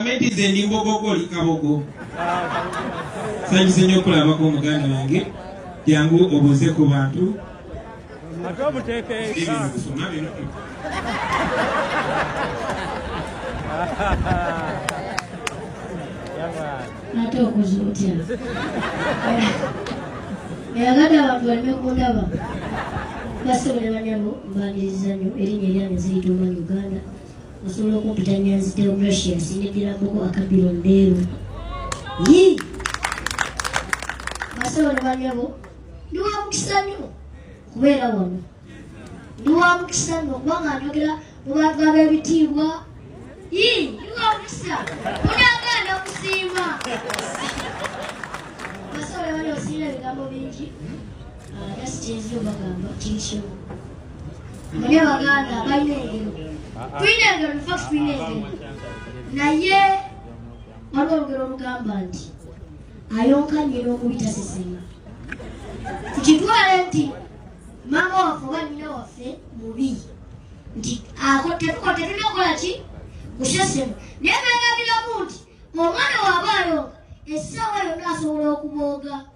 Gavumenti nze ndi mbogogo oli kabogo. Sanyize nnyo okulabako omuganda wange jangu obuuze ku bantu ate obuteeka eka ate okoze otya eyagada abantu baleme kundaba basobola banyabo mbaniriza nnyo erinnya eryange ziyita omwana uganda osobola okumpita nyanzi teokrasia nsinyigira muko akabiro ndeeru yi basebo ne banyabo ndi wa mukisa nnyo kubeera wano ndi wa mukisa nnyo kubanga njogera mu bantu ab'ebitiibwa yi ndi wa mukisa munagaana okusiima basebo ne banyabo siina ebigambo bingi ah, just enzi obagamba kiri kimu mune baganda balina engero tulina engero nfa tulina engero naye waliwo olugero olugamba nti ayonka nyina omubi tasesema tukitwale nti maama waffe oba nyina waffe mubi nti tetukotetulina okukola ki kusesema naye begabiramu nti omwana waba ayonka essaawa yonna asobola okubooga